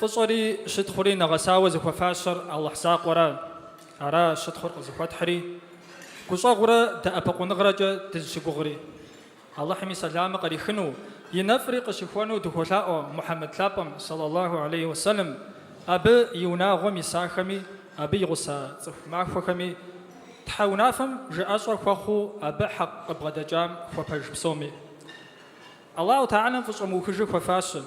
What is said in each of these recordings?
Фӏыщӏэри щытхъури нэгъэсауэ зыхуэфащэр Алыхь закъуэра, ара щытхъур къызыхуэтхьри, гущӏэгъурэ дэӏэпыкъуныгъэрэкӏэ дызыщыгугъри. Алыхьым и сэламыр кърихыну, и нэфӏри къыщыхуэну дыхуолъаӏуэ Мухьэмэд лъапӏэм, сэлаллаху алейхи уэ сэлэм, абы и унагъуэм исахэми, абы и гъуса цӏыху махуэхэми, Тхьэ унафэм жыӏэщӏэ хуэхъуу абы хьэкъ къыбгъэдэкӏам хуэпэж псоми. Аллаху тэхьэлам фӏыщӏэ мыухыж хуэфащэ,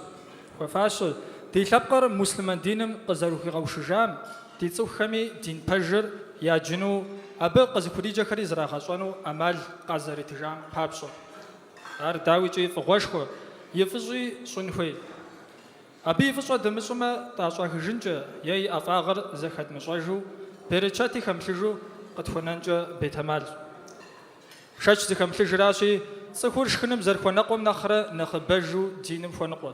хуэфащэ, ди лъэпкъыр муслъымэн диным къызэрыхуигъэушыжам, Ди цӏыхухэми дин пэжыр яджыну, абы къызыхуриджэхэри зрагъэщӏэну ӏэмал къазэритыжам папщӏэ. Ар, дауикӏи, фӏыгъуэшхуэ, и фӏыщӏи щӏын хуей. Абы и фӏыщӏэ дымыщӏмэ, тӏащӏэхыжынкӏэ е и ӏэфӏагъыр зэхэдмыщӏэжу, берычэти хэмылъыжу къытхуэнэнкӏэ бетэмал. Шэч зыхэмылъыжращи, цӏыхур шхыным зэрыхуэныкъуэм нэхърэ нэхъыбэжу диным хуэныкъуэ.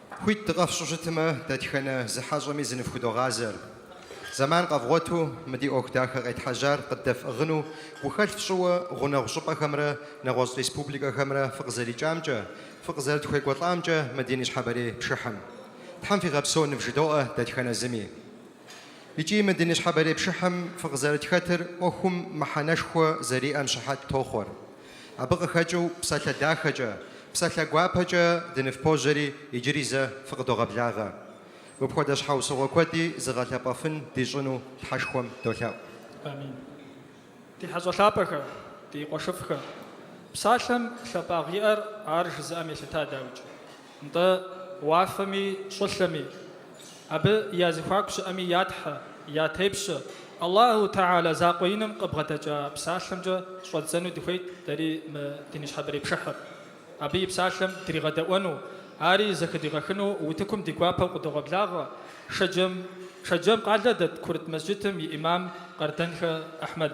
Хуит дыкъэфщӏу щытмэ, дэтхэнэ зы хьэщӏэми зыныфхудогъазэр. Зэман къэвгъуэту мы ди ӏуэху дахэ къетхьэжьар къыддэфӏыгъыну гухэлъ фщӏыуэ гъунэгъу щӏыпӏэхэмрэ нэгъуэщӏ республикэхэмрэ фыкъызэрикӏамкӏэ, фыкъызэрытхуекӏуэлӏамкӏэ мы ди ныщхьэбэрей пшыхьым. Тхьэм фигъэпсэу нывжыдоӏэ дэтхэнэ зыми. Икӏи мы ди ныщхьэбэрей пшыхьым фыкъызэрытхэтыр ӏуэхум мыхьэнэшхуэ зэриӏэм щыхьэт тохъуэр. Абы къыхэкӏыу псалъэ дахэкӏэ, псалъэ гуапэкӏэ дыныфпожьэри иджыри зэ фыкъыдогъэблагъэ. Мыпхуэдэ щхьэусыгъуэ куэди зыгъэлъэпӏэфын дищӏыну Тхьэшхуэм долъэӏу. Амин. Ди хьэщӏэ лъапӏэхэ, ди къуэшыфӏхэ, псалъэм лъапӏагъыу иӏэр ар жызыӏэм елъыта, дауикӏ. Нтӏэ, уафэми щӏылъэми, абы я зэхуаку щыӏэми я Тхьэ, я тепщэ Аллаху тэхьэла закъуэ иным къыбгъэдэкӏа псалъэмкӏэ щӏэддзэну дыхуейт дэри мы ди ныщхьэбэрей пшыхьыр, абы и псалъэм дригъэдэӏуэну, ари зэхыдигъэхыну утыкум ди гуапэу къыдогъэблагъэ Шэджэм Шэджэм къалэ дэт курыт мэсджытым и ӏимам Къардэнхэ Ахьмэд.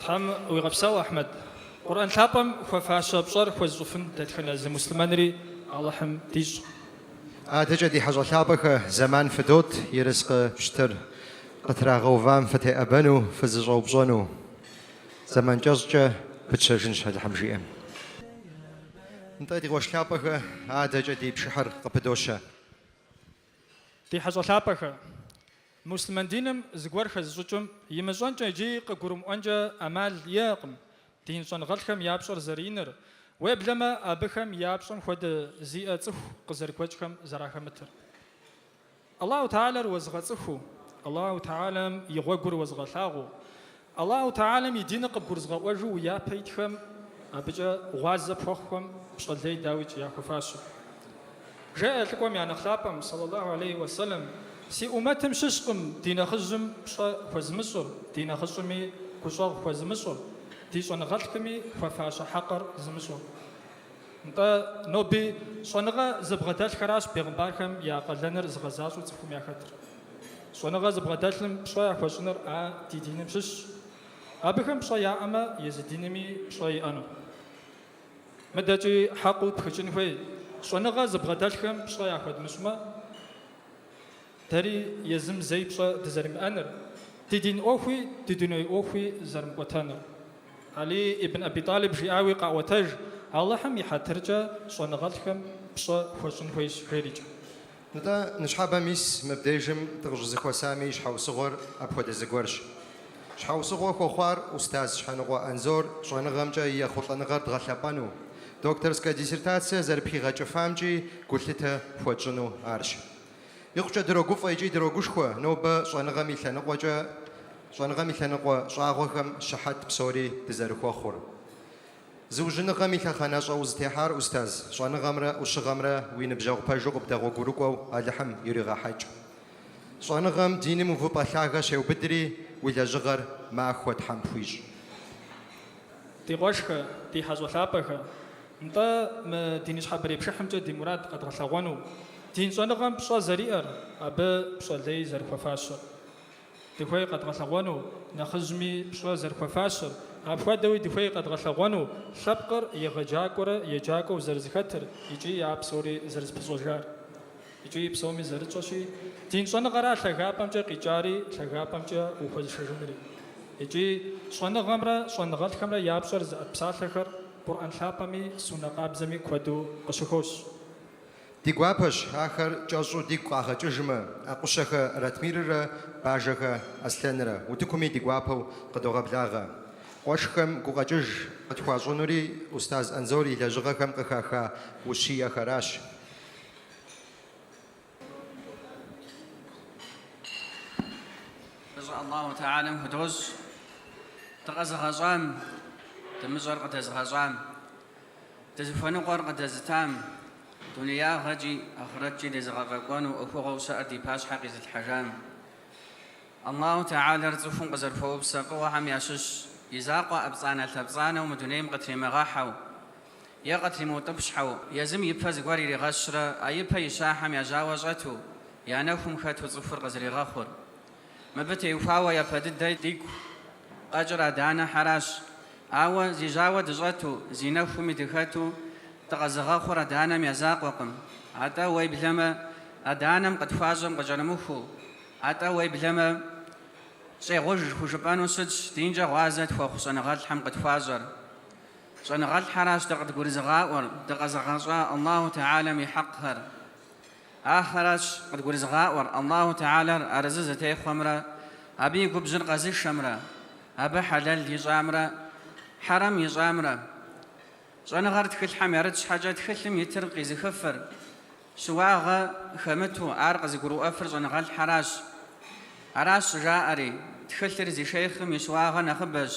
Тхьэм уигъэпсэу, Ахьмэд. Къурӏэн лъапӏэм хуэфащэ пщӏэр хуэзыщӏыфын дэтхэнэ зы муслъымэнри Алыхьым дищӏ. Адэкӏэ ди хьэщӏэ лъапӏэхэ, зэман фыдот ерыскъы пщтыр къытрагъэувам фытеӏэбэну, фызэщӏэупщӏэну. Зэман кӏэщӏкӏэ пытщэжынщ Алыхьым жиӏэм. Нтӏэ, ди къуэш лъапӏэхэ, адэкӏэ ди пшыхьыр къыпыдощэ. Ди хьэщӏэ лъапӏэхэ! Муслъымэн диным зыгуэр хэзыщӏыкӏым имыщӏэнкӏэ икӏи къыгурымыӏуэнкӏэ ӏэмал иӏэкъым, дин щӏэныгъэлӏхэм я пщӏэр зэрыиныр, уеблэмэ абыхэм я пщӏэм хуэдэ зиӏэ цӏыху къызэрыгуэкӏхэм зэрахэмытыр. Аллаху Тэгьалэр уэзыгъэцӏыхуу, Аллаху Тэгьалэм и гъуэгур уэзыгъэлъагъуу, Аллаху Тэгьалэм и диныр къыбгурызыгъэӏуэжу уи япэ итхэм, абыкӏэ гъуазэ пхуэхъухэм пщӏэ лей дауикӏ яхуэфащэ. Жеӏэ лӏыкӏуэм я нэхъ лъапӏэм, сэлаллаху алейхи уэ сэлэм, Си ӏумэтым щыщкъым ди нэхъыжьым пщӏэ хуэзымыщӏыр, ди нэхъыщӏэми гущӏэгъу хуэзымыщӏыр, ди щӏэныгъэлӏхэми хуэфащэ хьэкъыр зымыщӏыр. Нтӏэ, ноби щӏэныгъэ зыбгъэдэлъхэращ бегъымбархэм я къалэныр зыгъэзащӏэу цӏыхум яхэтыр. Щӏэныгъэ зыбгъэдэлъым пщӏэ яхуэщӏыныр а ди диным щыщщ. Абыхэм пщӏэ яӏэмэ, езы динми пщӏэ иӏэнущ. Мыдэкӏи хьэкъыу пхыкӏын хуей, щӏэныгъэ зыбгъэдэлъхэм пщӏэ яхуэдмыщӏмэ, Дэри езым зэи пщӏэ дызэримыӏэныр, ди дин ӏуэхуи ди дуней ӏуэхуи зэрымыкӏуэтэнур. Алий ибн Аби Тӏалиб жиӏауи къаӏуэтэж, Алыхьым и хьэтыркӏэ щӏэныгъэлӏхэм пщӏэ хуэщӏын хуейщ жерикӏэ. Нтӏэ, ныщхьэбэ, мис мыбдежым дыкъыщӏызэхуэсами и щхьэусыгъуэр апхуэдэ зыгуэрщ. Щхьэусыгъуэ хуэхъуар устаз Щхьэныкъуэ Анзор щӏэныгъэмкӏэ и ехъулӏэныгъэр дгъэлъэпӏэну, докторскэ диссертация зэрыпхигъэкӏыфамкӏи гулъытэ хуэтщӏыну арщ. Икъукӏэ дрогуфӏэ икӏи дрогушхуэ нобэ щӏэныгъэм и лъэныкъуэкӏэ, щӏэныгъэм и лъэныкъуэ щӏагъуэхэм щыхьэт псори дызэрыхуэхъур. Зыужьыныгъэм и лъэхъэнэщӏэ узытехьар, устаз, щӏэныгъэмрэ ӏущыгъэмрэ уи ныбжьэгъу пэжу къыбдэгъуэгурыкӏуэу Алыхьым иригъэхьэкӏ. Щӏэныгъэм диным увыпӏэ лъагэ щеубыдри, уи лэжьыгъэр махуэ Тхьэм пхуищӏ. Ди къуэшхэ, ди хьэщӏэ лъапӏэхэ! Нтӏэ, мы ди ныщхьэбэрей пшыхьымкӏэ ди мурад къэдгъэлъэгъуэну, дин щӏэныгъэм пщӏэ зэриӏэр, абы пщӏэ лей зэрыхуэфащэр. Дыхуей къэдгъэлъэгъуэну нэхъыжьми пщӏэ зэрыхуэфащэр, апхуэдэуи дыхуей къэдгъэлъэгъуэну лъэпкъыр егъэджакӏуэрэ еджакӏуэу зэрызэхэтыр икӏи а псори зэрызэпыщӏэжар. Икӏи псоми зэрытщӏэщи, дин щӏэныгъэра лъагапӏэмкӏэ къикӏари, лъагапӏэмкӏэ ухуэзышэжынури. Икӏи щӏэныгъэмрэ щӏэныгъэлӏхэмрэ я пщӏэр зыӏэт псалъэхэр Къурӏэн лъапӏэми суннэ къабзэми куэду къыщыхощ. Ди гуапэщ ахэр кӏэщӏу дигу къагъэкӏыжмэ, Ӏэкъущэхэ Ратмиррэ Бажэхэ Аслъэнрэ утыкуми ди гуапэу къыдогъэблагъэ. Къуэшхэм гукъэкӏыж къытхуащӏынури устаз Анзор и лэжьыгъэхэм къыхаха ущиехэращ. Фӏыщӏэ Аллаху Тэхьэлэм худощӏ дыкъэзыгъэщӏам, дымыщӏэр къыдэзыгъэщӏам, дызыхуэныкъуэр къыдэзытам, дунеягъэкӏи ахърэткӏи дезыгъэфӏэкӏуэну ӏуэхугъуэу щыӏэр ди пащхьэ къизылъхьэжам, Аллаху Тэхьэлэр цӏыхум къызэрыхуэупсэ фӏыгъуэхэм ящыщ и закъуэ ӏэпцӏанэ-лъэпцӏанэу мы дунейм къытримыгъэхьэу, е къытримыутӏыпщхьэу, езым ипэ зыгуэр иригъэщрэ а ипэ ищахьэм я жьауэ щӏэту, я нэхум хэту цӏыхур къызэригъэхъур. Мыбы теухуауэ япэ дыдэ дигу къэкӏыр адэ-анэхьэращ. Ауэ зи жьауэ дыщӏэту, зи нэхуми дыхэту дыкъэзыгъэхъур адэ-анэм я закъуэкъым. Атӏэ уеблэмэ, адэ-анэм къытхуащӏэм къыкӏэрымыхуу, атӏэ уеблэмэ, щӏегъуж хужыпӏэну щытщ динкӏэ гъуазэ тхуэхъу щӏэныгъэлӏхэм къытхуащӏэр. Щӏэныгъэлӏхьэращ дэ къыдгурызыгъаӏуэр, дыкъэзыгъэщӏа Аллаху Тэхьэлэм и хьэкъхэр. Ахэращ къыдгурызыгъаӏуэр Аллаху Тэхьэлэр арэзы зытехъуэмрэ абы и губжьыр къэзышэмрэ, абы хьэлэл ищӏамрэ хьэрэм ищӏамрэ. Щӏэныгъэр тхылъхьэм ярыт щхьэкӏэ тхылъым итыр къизыхыфыр, щыуагъэ хэмыту ар къызыгурыӏуэфыр щӏэныгъэлӏхьэращ. Аращ щӏыжаӏэри, Тхылъыр зи шейхъым и щыуагъэ нэхъыбэщ.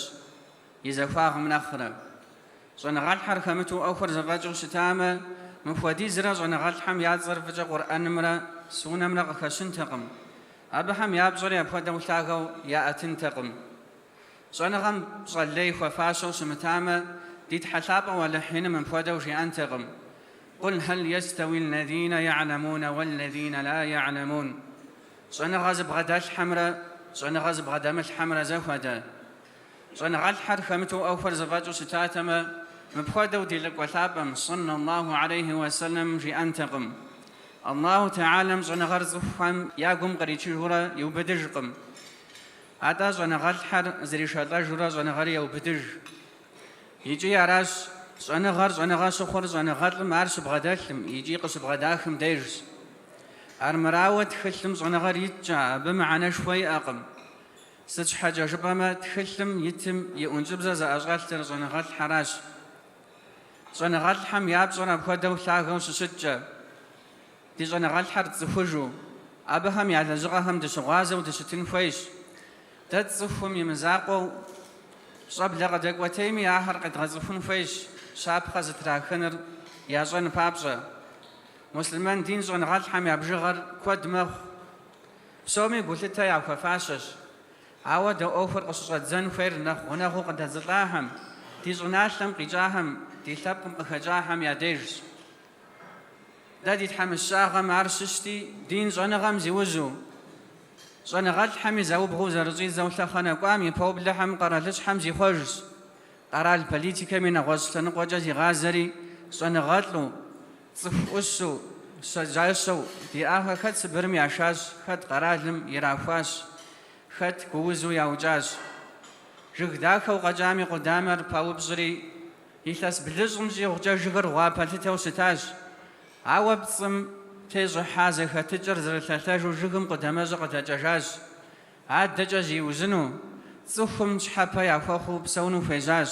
И захуагъым нэхърэ. Щӏэныгъэлӏхэр хэмыту ӏуэхур зэфӏэкӏыу щытамэ, мыпхуэдизрэ щӏэныгъэлӏхэм я цӏэр фӏыкӏэ Къурӏэнымрэ Суннэмрэ къыхэщынтэкъым, абыхэм я пщӏэри апхуэдэу лъагэу яӏэтынтэкъым. Щӏэныгъэм пщӏэ лей хуэфащэу щымытамэ, ди Тхьэлъапӏэу Алыхь Иным мыпхуэдэу жиӏэнтэкъым, Къул хьэл ястэуи аллазинэ я'элэмунэ уаллазинэ ла я'элэмун? Щӏэныгъэ зыбгъэдэлъхьэмрэ щӏэныгъэ зыбгъэдэмылъхьэмрэ зэхуэдэ, Щӏэныгъэлӏхэр хэмыту ӏуэхур зэфӏэкӏыу щытатэмэ, мыпхуэдэу ди Лӏыкӏуэ Лъапӏэм, сэллэллаху алейхи уэ сэллэм, жиӏэнтэкъым. Аллаху Тэхьэлэм щӏэныгъэр цӏыхухэм я гум къричыжурэ иубыдыжкъым. Атӏэ щӏэныгъэлӏхэр зришэлӏэжурэ щӏэныгъэри еубыдыж. Икӏи аращ щӏэныгъэр щӏэныгъэ щыхъур щӏэныгъэлӏым ар щыбгъэдэлъым икӏи къыщыбгъэдахым дежщ. Армырауэ, тхылъым щӏэныгъэр иткӏэ, абы мыхьэнэшхуэ иӏэкъым. Сыт щхьэкӏэ жыпӏэмэ, тхылъым итым и ӏункӏыбзэ зэӏэщӏэлъыр щӏэныгъэлӏхьэращ. Щӏэныгъэлӏхэм я пщӏэр апхуэдэу лъагэу щыщыткӏэ, ди щӏэныгъэлӏхьэр тцӏыхужу, абыхэм я лэжьыгъэхэм дыщыгъуазэу дыщытын хуейщ. Дэ тцӏыхум и мызакъуэу, щӏэблэ къыдэкӏуэтейми ахэр къедгъэцӏыхун хуейщ, щапхъэ зытрахыныр ящӏэн папщӏэ. Муслъымэн дин щӏэныгъэлӏхэм я бжыгъэр куэд мэхъу, Псоми гулъытэ яхуэфащэщ. Ауэ дэ ӏуэхур къыщыщӏэддзэн хуейр нэхъ гъунэгъуу къыдэдзылӏахэм, ди щӏыналъэм къикӏахэм, ди лъэпкъым къыхэкӏахэм я дежщ. Дэ ди тхьэмыщкӏагъэм ар щыщти, дин щӏэныгъэм зиужьу, щӏэныгъэлӏхэми заубгъуу зэрыщӏидзэу лъэхъэнэ кӏуам и поублэхэм къэралыщхьэм зихъуэжщ, къэрал политикэми нэгъуэщӏ лъэныкъуэкӏэ зигъазэри щӏэныгъэлӏу, Цӏыху ӏущу, щэджащэу диӏахэ хэт Сыбырым яшащ, хэт къэралым ирахуащ, хэт гуузу яукӏащ. Жыг дахэу къэкӏам и къудамэр паупщӏри, илъэс блыщӏым щӏигъукӏэ жыгыр гъуа пэлъытэу щытащ. Ауэ пцӏым тещӏыхьа зэхэтыкӏыр зэрылъэлъэжу жыгым къудамэщӏэр къыдэкӏэжащ. Адэкӏэ зиужьыну, цӏыхум щхьэпэ яхуэхъуу псэуну хуежьащ.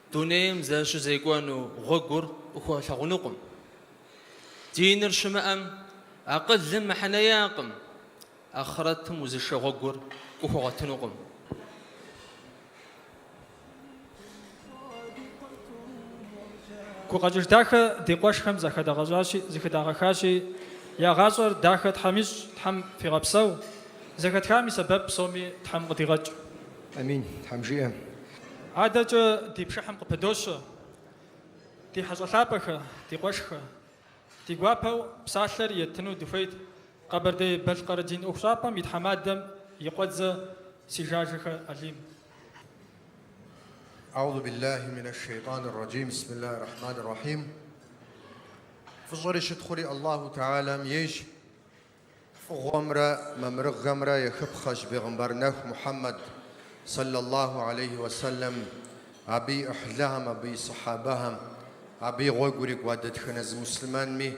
Дунейм зэрыщызекӏуэну гъуэгур къыхуэлъагъунукъым. Диныр щымыӏэм, акъылым мыхьэнэ иӏэкъым, ахърэтым узышэ гъуэгур къыхуэгъуэтынукъым. Гукъэкӏыж дахэ ди къуэшхэм зэхыдагъэхащи, я гъащӏэр дахэ Тхьэм ищӏ, Тхьэм фигъэпсэу, зэхэтхам и сэбэп псоми Тхьэм къыдигъэкӏ. Амин, Тхьэм жиӏэ. Адэкӏэ ди пшыхьым къыпыдощэ ди хьэщӏэ лъапӏэхэ, ди къуэшхэ. Ди гуапэу псалъэр еттыну дыхуейт Къэбэрдей-Балъкъэр дин ӏуэхущӏапӏэм и тхьэмадэм и къуэдзэ Сыжажэхэ Алим. Аузу биллахи минэш шейтӏаныр раджим бисмиллахи рахьманир рахьим Фӏыщӏэри щытхъури Аллаху таалям ейщ. Фӏыгъуэмрэ мамырыгъэмрэ ехыпхъэщ бегъымбар нэху Мухьэммэд, сэллаллаху алейхи уэ сэлэм, абы и ӏыхьлыхэм, абы и сыхьэбэхэм, абы и гъуэгу ирикӏуа дэтхэнэ зы муслъымэнми.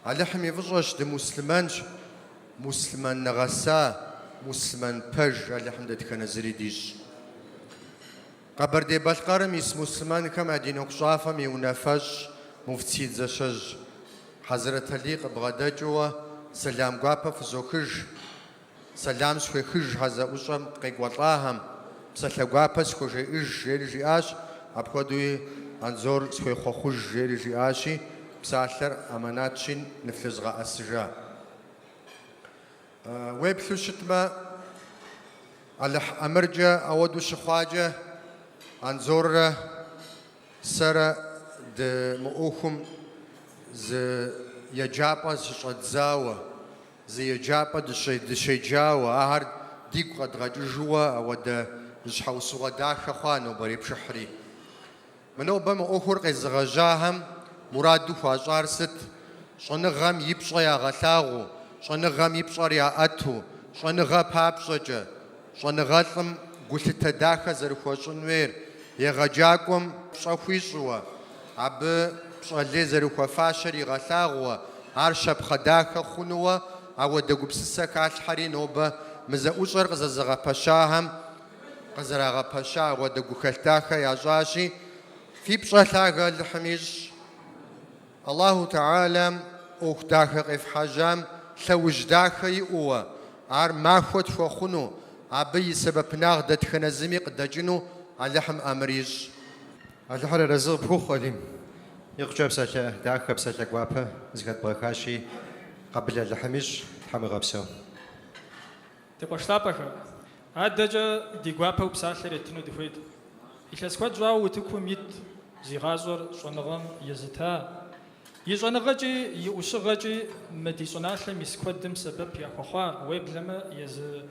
Алыхьым и фӏыщӏэщ дымуслъымэнщ, муслъымэн нэгъэса, муслъымэн пэж Алыхьым дэтхэнэ зыри дищӏ. Къэбэрдей-Балъкъэрым ис муслъымэнхэм я дин ӏуэхущӏапӏэм и унафэщӏ муфтий Дзасэжь Хьэзрэталий къыбгъэдэкӏыуэ сэлам гуапэ фызохыж, сэлам схуехыж а зэӏущӏэм къекӏуэлӏахэм, псалъэ гуапэ схуэжеӏыж, жери жиӏащ, апхуэдэуи Анзор схуехъуэхъуж, жери жиӏащи, псалъэр амэнатщи, ныфлъызгъэӏэсыжа. Уеплъу щытмэ, Алыхь ӏэмыркӏэ ауэдэу щыхъуакӏэ, Анзоррэ сэрэ дэ мы ӏуэхум зы еджапӏэ щыщӏэддзауэ, зы еджапӏэ дыщеджауэ, ахэр дигу къэдгъэкӏыжууэ ауэдэ щхьэусыгъуэ дахэ хъуа нобэрей пшыхьри. Мы нобэ мы ӏуэхур къезыгъэжьахэм мураду хуащӏар сыт? Щӏэныгъэм и пщӏэ ягъэлъагъуу, щӏэныгъэм и пщӏэр яӏэту, щӏэныгъэ папщӏэкӏэ, щӏэныгъэлӏым гулъытэ дахэ зэрыхуэщӏын хуейр, егъэджакӏуэм пщӏэ хуищӏыуэ, абы пщӏэ лей зэрыхуэфащэр игъэлъагъууэ, ар щапхъэ дахэ хъунууэ ауэдэ гупсысэ халъхьэри нобэ мы зэӏущӏэр къызэзыгъэпэщахэм къызэрагъэпэща ауэдэ гухэлъ дахэ ящӏащи, фи пщӏэ лъагэ Алыхьым ищӏ. Алыхьу Тэхьэлэм ӏуэху дахэ къефхьэжьам лъэужь дахэ иӏууэ, ар махуэ тхуэхъуну, абы и сэбэпынагъ дэтхэнэ зыми къыдэкӏыну Алыхьым ӏэмыр ищӏ. Алыхьыр арэзы къыпхухъу, Алим. Икъукӏэ псалъэ дахэ, псалъэ гуапэ зыхэдбгъэхащи, Къэбыл Алыхьым ищӏ, Тхьэм уигъэпсэу. Ди къуэш лъапӏэхэ, адэкӏэ ди гуапэу псалъэр еттыну дыхуейт. Илъэс куэд щӏауэ утыкум ит зи гъащӏэр щӏэныгъэм езыта. И щӏэныгъэкӏи и ӏущыгъэкӏи мы ди щӏыналъэм ис куэдым сэбэп яхуэхъуа, уеблэмэ езы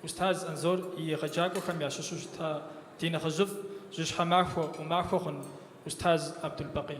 Устаз Анзор и егъэджакӏуэхэм ящыщу щыта ди нэхъыжьыфӏ жьыщхьэ махуэ, ӏумахуэ хъун Устаз Абдулбакъи.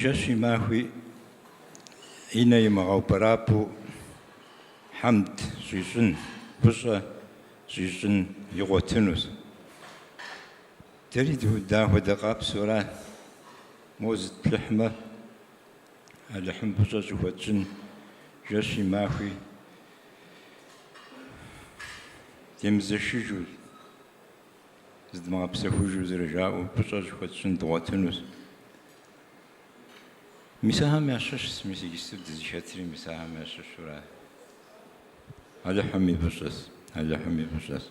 Жэщи махуи и нэ имыгъэупӏэрапӏэу хьэмд щӏищӏын, фӏыщӏэ щӏищӏын игъуэтынущ. Дэри дыахуэдэкъэ псори? Моуэ зытплъыхьмэ, Алыхьым фӏыщӏэ щӏыхуэтщӏын жэщи махуи демызэшыжу. зыдмыгъэпсэхужу зэрыжаӏэу фӏыщӏэ щӏыхуэтщӏын дгъуэтынущ. Мис ахэм ящыщщ, мис иджыпсту дызыхэтри мис ахэм ящыщура? Алыхьым и фӏыщӏэщ, Алыхьым и фӏыщӏэщ.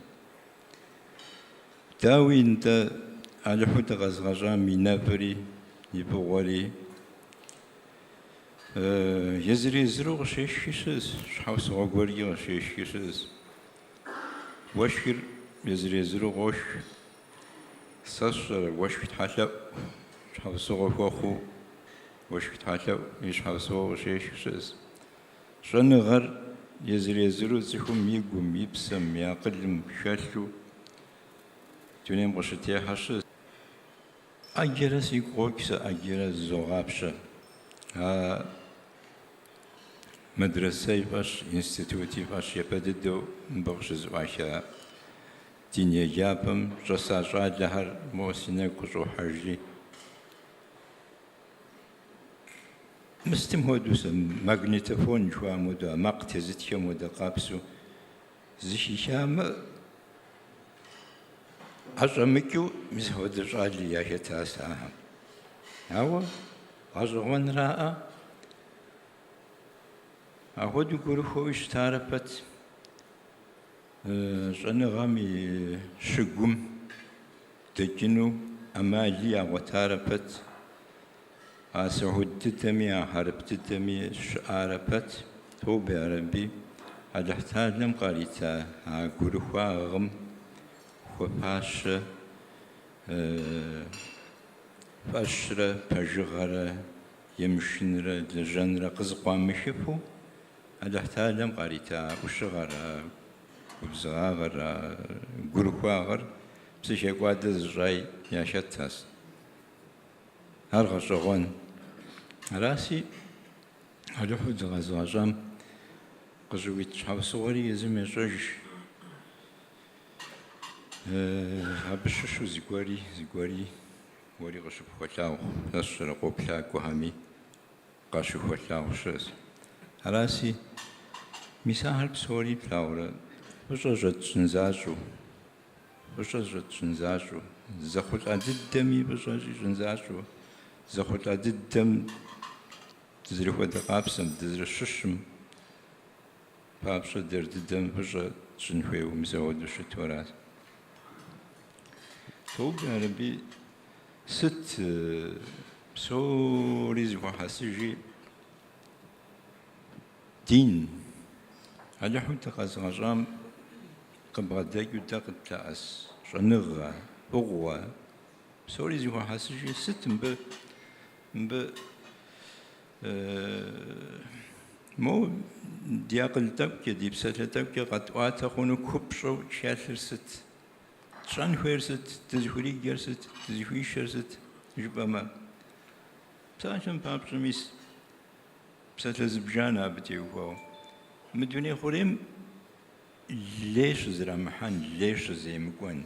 Дауи, нтӏэ, Алыхьу дыкъэзыгъэщӏам и нэфӏри, и фӏыгъуэри езыр-езыру къыщешхи щыӏэщ, щхьэусыгъуэ гуэркӏэ къыщешхи щыӏэщ. Уэшхыр езыр-езыру къошх. Сэ сщӏэрэ, уэшх тхьэлъэӏу щхьэусыгъуэ хуэхъуу, уэшх тхьэлъэӏу и щхьэусыгъуэу къыщешх щыӏэс. Щӏэныгъэр езыр-езыру цӏыхум и гум, и псэм, и акъылым хэлъу дунейм къыщытехьэ щыӏэс. ӏэджэрэ сигу къокӏ сэ, ӏэджэрэ зызогъапщэ. А Медресэи фӏэщ, институти фӏэщ япэ дыдэу мыбы къыщызыӏуаха дин еджапӏэм щӏэса щӏалэхэр моуэ си нэгу къыщӏохьэжри. Мыстым хуэдэу сэ, магнитофон жыхуаӏэм хуэдэу, а макъ тезытхэм хуэдэ къабзэу зыхихамэ, ӏэщӏэмыкӏыу мис апхуэдэ щӏали яхэтас ахэм. Ауэ. Гъэщӏэгъуэнраӏэ, ахуэдэу гурыхуэуи щытарэ пэт щӏэныгъэм и щыгум дэкӏыну ӏэмали ягъуэтарэ пэт, а сыхьуд дыдэми, а хьэрып дыдэми щыӏарэ пэт, тобэ ярэби, Алыхьталэм къарита а гурыхуагъым хуэфащэ. Фӏэщрэ пэжыгъэрэ, емышынрэ лэжьэнрэ къызыкъуамыхыфу Алыхьталэм къарита ӏущыгъэр, а губзыгъагъэр, а гурыхуагъэр псыхекӏуадэ зыщӏаи яхэтас. Ар гъэщӏэгъуэн. Араси, Алыхьу дыкъэзыгъэщӏам къыщӏыуит щхьэусыгъуэри езым ещӏэж. Абы щыщу зыгуэри, зыгуэри уэри къыщыпхуэлъагъу, сэ сщӏэрэ, къоплъакӏуэхэми къащыхуэлъагъу щыӏэс. Араси, мис ахэр псори плъагъурэ, фӏыщӏэ щӏэтщӏын защӏэу, фӏыщӏэ щӏэтщӏын защӏэу, зэхъулӏа дыдэми фӏыщӏэ щӏищӏын защӏэу, зэхъулӏа дыдэм дызэрыхуэдэ къабзэм, дызэрыщыщым, Папщӏэ дэр дыдэм фӏыщӏэ тщӏын хуейуэ мис ахуэдэу щыту аращ. Тобэ ярэби, сыт псори зыхуэхьэсыжи дин Алыхьу дыкъэзыгъэщӏам къыбгъэдэкӏыу дэ къытлъэӏэс щӏэныгъэ, фӏыгъуэ псори зыхуэхьэсыжи сыт мыбы мыбы Мо ди акъыл тӏэкӏукӏи, ди псалъэ тӏэкӏукӏи къэтӏуатэ хъуну купщӏэу хэлъыр сыт? Тщӏэн хуейр сыт? Дызыхуриджэр сыт? Дызыхуишэр сыт? жыпӏэмэ. Псалъэм папщӏэ мис псалъэ зыбжанэ абы теухуауэ. Мы дуней хъурейм лей щызэрамыхьэн, лей щыземыкӏуэн.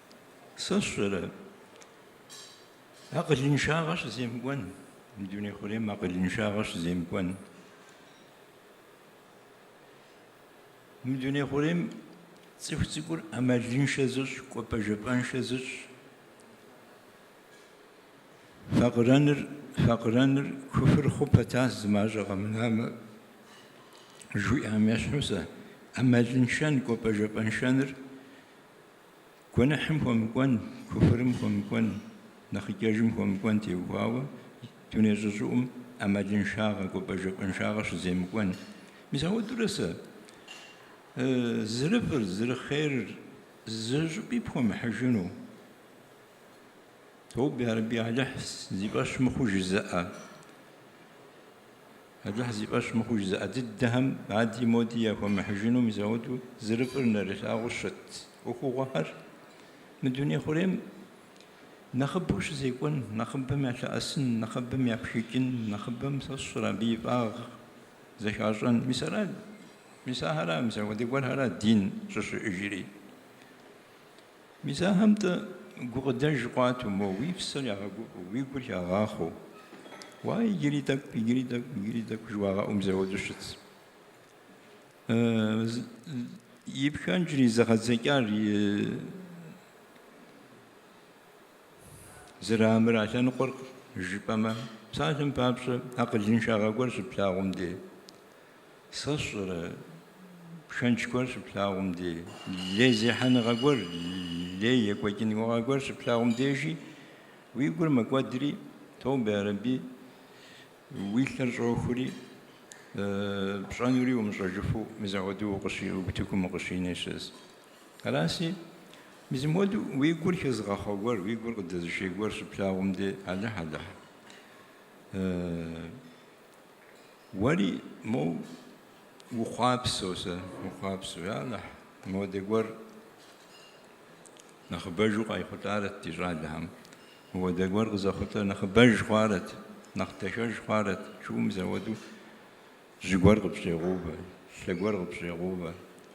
Сэ сщӏэрэ, акъылыншагъэ щыземыкӏуэн, мы дуней хъурейм акъылыншагъэ щыземыкӏуэн. Мы дуней хъурейм цӏыху цӏыкӏур ӏэмалыншэ зыщӏ, кӏуэпӏэжэпӏэншэ зыщӏ. Факъырэныр, факъырэныр куфыр хъу пэтас, зы мащӏэ къэмынамэ, жиӏам ещхьу сэ, ӏэмалыншэн, кӏуэпӏэжэпӏэншэныр Гуэныхьым хуэмыкӏуэн, куфрым хуэмыкӏуэн, нэхъыкӏэжым хуэмыкӏуэн теухуауэ дуней щӏыщӏыӏум ӏэмалыншагъэ, кӏуэпӏэжэпӏэншагъэ щыземыкӏуэн. Мис ауэдурэ сэ зырыфӏыр, зырыхъерыр зы щӏыпӏи пхуэмыхьыжыну? Тобэ, я Рабби Алыхь, зи фӏэщ мыхъуу жызыӏэ. Алыхь зи фӏэщ мыхъуу жызыӏэ дыдэхэм ади-моди яхуэмыхьыжыну мызэуэдэу зэрыфӏыр нэрылъагъуу щыт ӏуэхугъуэхэр мы дуней хъурейм нэхъыбэу щызекӏуэн, нэхъыбэм ялъэӏэсын, нэхъыбэм япшыкӏын, нэхъыбэм сэ сщӏэрэ абы и фӏагъ зэхащӏэн. Мис ара, мис ахэр ара, мис ауэдэ гуэрхэр ара дин щӏыщыӏэжри? Мис ахэм-тӏэ гукъыдэж къуату, мо уи псэр ягъэгуфӏэу, уи гур ягъахъуэу, уа иджыри тӏэкӏу, иджыри тӏэкӏу, иджыри тӏэкӏу жыуагъэӏу мызэуэдэу щытс. И пхэнжри, зэгъэдзэкӏар и зэрыамыра лъэныкъуэр жыпӏэмэ, псалъэм папщӏэ, акъылыншагъэ гуэр щыплъагъум де. Сэ сщӏэрэ, пхэнж гуэр щыплъагъум де, лей зехьэныгъэ гуэр, лей екӏуэкӏыныгъэ гуэр щыплъагъум дежи, уи гур мэкӏуэдри, тобэ, ярэби, уи лъэр щӏохури, пщӏэнури умыщӏэжыфу мызэуэду укъыщ- утыкум укъыщинэ щыӏэс. Араси, мызымуэду уи гур хэзыгъэхъуэ гуэр, уи гур къыдэзышей гуэр щыплъагъум де, Алыхь, Алыхь, Уэри моу ухъуапсэу сэ, ухъуапсэу, я Алыхь, мыуэдэ гуэр нэхъыбэжу къайхъулӏарэт ди щӏалэхэм. Мыуэдэ гуэр къызэхъулӏэр нэхъыбэж хъуарэт, нэхъ дахэж хъуарэт, жоуэ мызэуэду жьы гуэр къыпщӏегъуувэ, лъэ гуэр къыпщӏегъуувэ,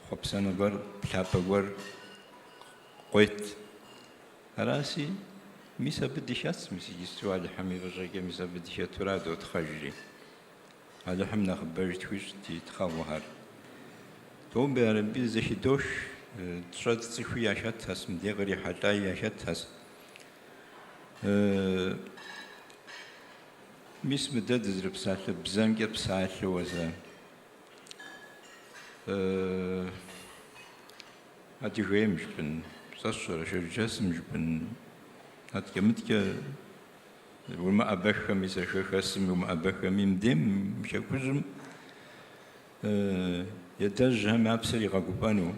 хъуэпсэнэ гуэр, плъапӏэ гуэр къует. Араси, мис абы дыхэтс, мис иджысту Алыхьым и фӏыщӏэкӏэ, мис абы дыхэтура дотхъэжри. Алыхьым нэхъыбэж тхуищӏ ди тхъэгъуэхэр. Тобэ ярэби, зэхыдох, тщӏэ цӏыхуи яхэтхэс, мыдей кърихьэлӏаи яхэтхэс. Мис мы дэ дызэрыпсалъэ бзэмкӏэ псалъэуэ зэ. Адыгейм жыпӏэн сэ сщӏэрэ Шэрджэсым жыпӏэн адкӏэ-мыдкӏэ умыӏэбэххэми, сэ хэхэсым умыӏэбэххэми, мыдейм мы Хэкужьым и адэжьхэм я псэр игъэгуфӏэну,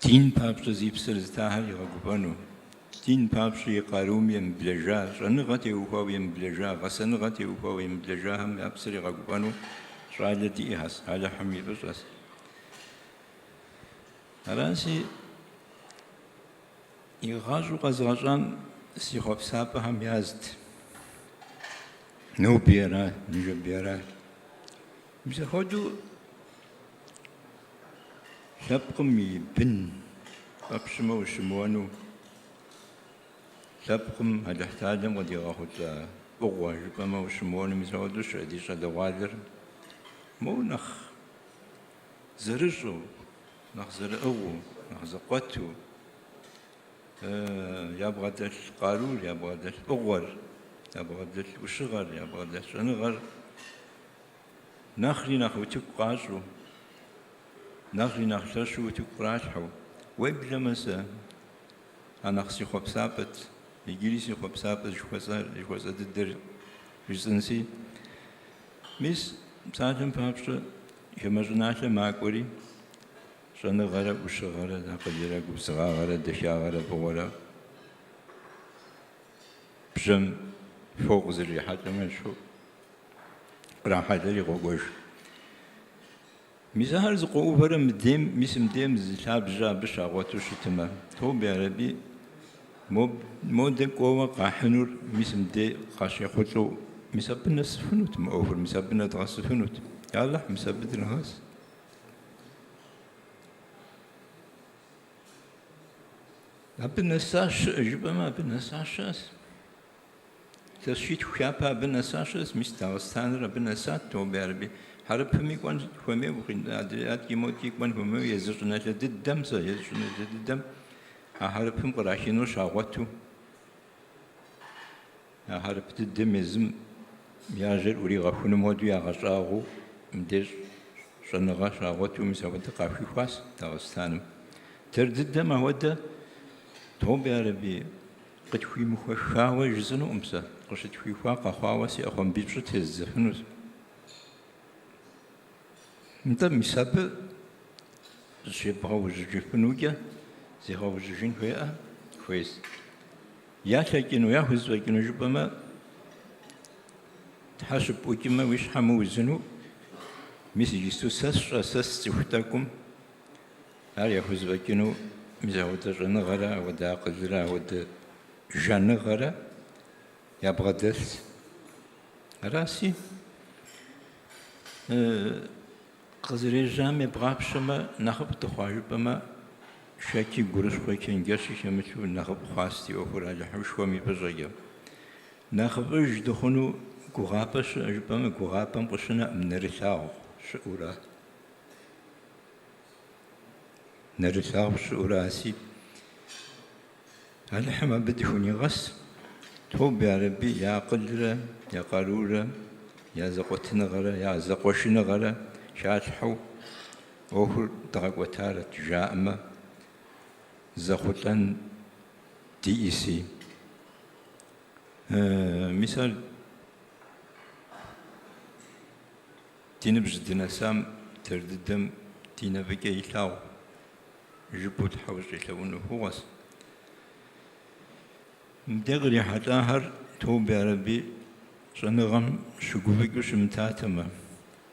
дин папщӏэ зи псэр зытахэр игъэгуфӏэну, Дин папщӏэ и къарум емыблэжа, щӏэныгъэ теухуауэ емыблэжа, гъэсэныгъэ теухуауэ емыблэжахэм я псэр игъэгуфӏэну щӏалэ диӏэхэс, Алыхьым и фӏыщӏэс. Араси, игъащӏэу къэзгъэщӏам си хъуэпсапӏэхэм язт. Ноби ара, ныжэби ара. Мис апхуэдэу лъэпкъым и бын фӏэпщмэ ущымыуэну лъэпкъым Алыхьталэм къыдигъэхъулӏа фӏыгъуэ жыпӏэмэ ущымыуэну мис апхуэдэу щыӏэ ди щӏалэгъуалэр моуэ нэхъ зэрыщӏэу, нэхъ зэрыӏыгъыу, нэхъ зэкъуэту ябгъэдэлъ къарур, ябгъэдэлъ фӏыгъуэр, ябгъэдэлъ ӏущыгъэр, ябгъэдэлъ щӏэныгъэр Нэхъри нэхъ утыку къащӏу, нэхъри нэхъ лъэщу утыку къралъхьэу, уеблэмэ сэ а нэхъ си хъуэпсапӏэт, иджыри си хъуэпсапӏэт жыхуэсӏэ дыдэр жысӏэнси. Мис псалъэм папщӏэ хамэ щӏыналъэ макӏуэри, щӏэныгъэрэ ӏущыгъэрэ, акъылрэ губзыгъагъэрэ дахагъэрэ фӏыгъуэрэ. Бжьэм фо къызэрихьэлӏэм ещхьу кърахьэлӏэри къокӏуэж. Мис ахэр зэкъуэувэрэ мыдейм, мис мыдейм зы лъабжьэ абы щагъуэту щытымэ, тобэ ярэби, мо, модэ кӏуэуэ къахьынур мис мыдей къащехъулӏэу, мис абы нэсыфынут мы ӏуэхур, мис абы нэдгъэсыфынут. Я Алыхь, мис абы дынэгъэс. Абы нэса щыӏэ жыпӏэмэ, абы нэса щыӏэс. Илъэситху-хы япэ абы нэса щыӏэс, мис Дагъыстаныр абы нэсат, тобэ ярэби. Хьэрыпыми кӏуэн хуэмейуэ, адрей адкӏи модкӏи кӏуэн хуэмейуэ, езы щӏыналъэ дыдэм сэ, езы щӏыналъэ дыдэм а хьэрыпым кърахыну щагъуэту. А хьэрып дыдэм езым я жьэр ӏуригъэхуным хуэдэу ягъэщӏагъуэу мыбдеж щӏэныгъэ щагъуэту мис апхуэдэ къахуихуас Дагъыстаным. Дэр дыдэм апхуэдэ, тобэ ярэби, къытхуимыхуэххауэ жысӏэнукъым сэ, къыщытхуихуа къэхъуауэ си ӏэхъуамбипщӏыр тездзэфынус. Нтӏэ, мис абы зыщебгъэужьыжыфынукӏэ зегъэужьыжын хуеӏэ? Хуейс. Ялъэкӏыну, яхузэфӏэкӏыну жыпӏэмэ, Тхьэ щыпӏукӏымэ, уи щхьэ мыузыну, мис иджысту сэ сщӏэ, сэ сцӏыху тӏэкӏум ар яхузэфӏэкӏыну, мис ауэдэ щӏэныгъэрэ, ауэдэ акъылрэ, ауэдэ жаныгъэрэ ябгъэдэлъ. Араси, къызэрежьам ебгъапщэмэ, нэхъыфӏ дыхъуа жыпӏэмэ, шэчи, гурыщхъуи, чэнджэщи хэмыту нэхъыфӏ хъуащ ди ӏуэхур Алыхьышхуэм и фӏыщӏэкӏэ. Нэхъыфӏыж дыхъуну гугъапӏэ щыӏэ жыпӏэмэ, гугъапӏэм къыщынэӏым нэрылъагъу щыӏура. Нэрылъагъу щыӏураси, Алыхьым абы дыхунигъэс, тобэ ярэби я акъылрэ я къарурэ, я зэкъуэтыныгъэрэ я зэкъуэшыныгъэрэ халъхьэу ӏуэхур дгъэкӏуэтарэт жаӏэмэ, зэхъулӏэн диӏэси. Мис ар ди ныбжь дынэсам, дэр дыдэм ди нэ фӏыкӏэ илъагъу. жыпӏэу Тхьэ ущӏелъэӏун ӏуэхугъуэс. Мыдэ кърихьэлӏахэр Тобэ Ярэби щӏэныгъэм щыгуфӏыкӏыу щымытатэмэ,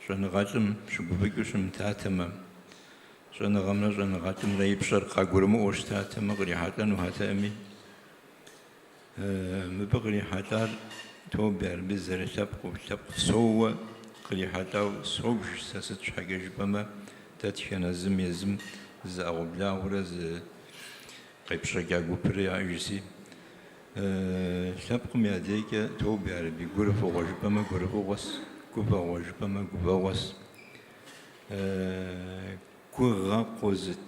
щӏэныгъэлӏым щыгуфӏыкӏыу щымытатэмэ, щӏэныгъэмрэ щӏэныгъэлӏымрэ и пщӏэр къагурымыӏуэу щытатэмэ кърихьэлӏэнухэтэӏыми, Мыбы кърихьэлӏар тобэ ярэби, зэрылъэпкъыу, лъэпкъ соуэ кърихьэлӏау собж сэ, сыт щхьэкӏэ жыпӏэмэ, дэтхэнэ зым езым зы ӏэгъуэблагъэрэ зы къепщӏэкӏа гупрэ яӏэжси, лъэпкъым я дейкӏэ тобэ ярэби, гурыфӏыгъуэ жыпӏэмэ, гурыфӏыгъуэс, гуфӏэгъуэ жыпӏэмэ, гуфӏэгъуэс, гугъэ къозыт.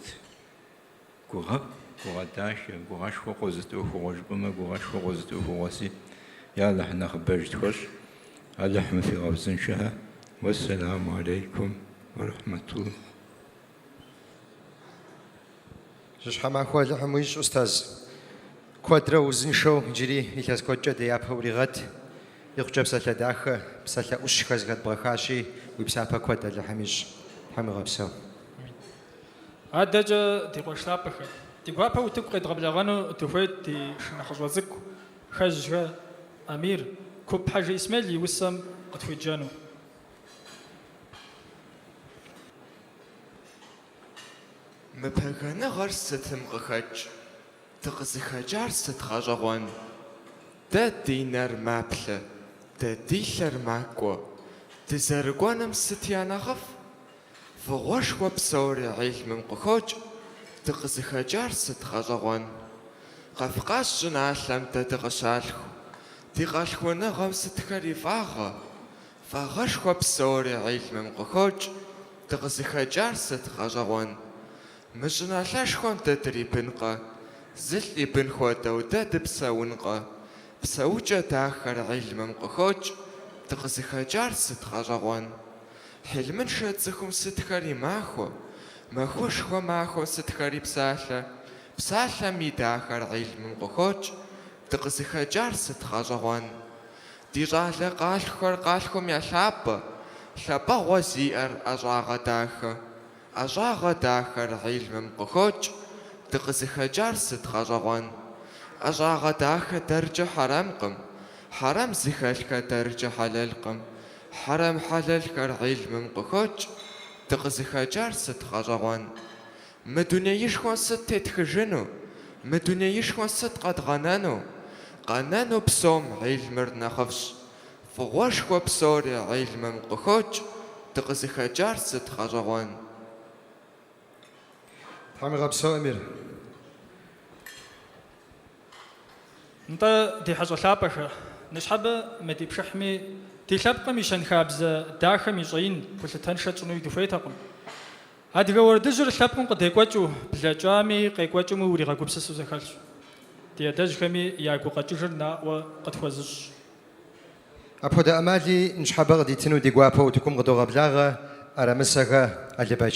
Гугъэ, гугъэ дахэ, гугъэшхуэ къозыт ӏуэхугъуэ жыпӏэмэ, гугъэшхуэ къозыт ӏуэхугъуэси. Я Алыхь нэхъыбэж тхуэщӏ, Алыхьым фигъэузыншэхэ. Уэссэламу алейкум уэ рахьмэтуллэ. Жьыщхьэмахуэ Алыхьым уищӏ, устаз. Куэдрэ узыншэу иджыри илъэс куэдкӏэ ди япэ уригъэт. Икъукӏэ псалъэ дахэ, псалъэ ӏущхэр зэхэдбгъэхащи, уи псапэ куэд Алыхьым ищӏ. Тхьэм игъэпсэу. Адэкӏэ ди къуэш лъапӏэхэр. Ди гуапэу утыку къедгъэблэгъэну дыхуейт ди шынэхъыщӏэ цӏыкӏу Хэжьхэ Амир, Куп Хьэжы Исмел и усэм къытхуеджэну. Мы пэгэныгъэр сытым къыхэкӏ, дыкъызыхэкӏар сыт гъэщӏэгъуэн? Дэ ди нэр маплъэ, дэ ди лъэр макӏуэ. Дызэрыкӏуэным сыт я нэхъыфӏ? Фӏыгъуэшхуэ псори гьилмым къыхокӏ, дыкъызыхэкӏар сыт гъэщӏэгъуэн? Кавказ щӏыналъэм дэ дыкъыщалъху, ди къалъхуэныгъэм сытхэр и фӏагъэ? Фӏагъэшхуэ псори гьилмым къыхокӏ, дыкъызыхэкӏар сыт гъэщӏэгъуэн? Мы щӏыналъэшхуэм дэ дрибынкъэ? Зылӏ и бын хуэдэу дэ дыпсэункъэ? Псэукӏэ дахэр гьилмым къыхокӏ, дыкъызыхэкӏар сыт гъэщӏэгъуэн? Гьилмыншэ цӏыхум сытхэр и махуэ, махуэшхуэ махуэм сытхэр и псалъэ, псалъэм и дахэр гьилмым къыхокӏ, дыкъызыхэкӏар сыт гъэщӏэгъуэн? Ди щӏалэ къалъхухэр къалъхум я лъапӏэ, лъапӏэгъуэ зиӏэр ӏэщӏагъэ дахэ, ӏэщӏагъэ дахэр гьилмым къыхокӏ, дыкъызыхэкӏар сыт гъэщӏэгъуэн? ӏэщӏагъэ дахэ дэркӏэ хьэрэмкъым, хьэрэм зыхэлъхэ дэркӏэ хьэлэлкъым. Хьэрэм хьэлэлхэр гьилмым къыхокӏ, дыкъызыхэкӏар сыт гъэщӏэгъуэн? Мы дунеишхуэм сыт тетхыжыну? Мы дунеишхуэм сыт къэдгъэнэну? Къэнэну псом гьилмыр нэхъыфӏщ. Фӏыгъуэшхуэ псори гьилмым къыхокӏ, дыкъызыхэкӏар сыт гъэщӏэгъуэн? Тхьэм уигъэпсэу, Амир. Нтӏэ, ди хьэщӏэ лъапӏэхэ, ныщхьэбэ мы ди пшыхьми ди лъэпкъым и щэнхабзэ дахэм и щӏэин гулъытэншэ тщӏынуи дыхуейтэкъым. Адыгэ уэрэдыжьыр лъэпкъым къыдекӏуэкӏыу, блэкӏами, къекӏуэкӏыми уригъэгупсысу зэхэлъщ. Ди адэжьхэми я гукъэкӏыжыр наӏуэ къытхуэзыщӏщ. Апхуэдэ ӏэмали ныщхьэбэ къыдитыну ди гуапэу утыкум къыдогъэблагъэ ӏэрэмысэхэ Алыбэч.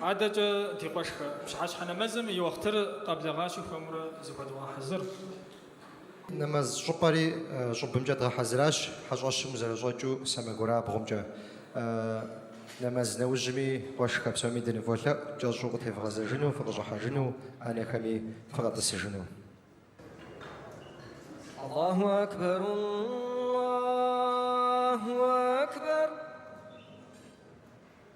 Адэкӏэ ди къуэшхэ пщыхьэщхьэ нэмэзым и уэхътыр къэблэгъащи хуэмурэ зыхуэдгъэхьэзыр. Нэмэз щӏыпӏэри щӏыбымкӏэ дгъэхьэзыращ, хьэщӏэщым зэрыщӏэкӏыу сэмэгурабгъумкӏэ. Нэмэз нэужьми къуэшхэ псоми дыныволъэӏу кӏэщӏу къытевгъэзэжыну, фыкъыщӏыхьэжыну, ӏэнэхэми фыкъэтӏысыжыну. Аллаху акбар, Аллаху акбар.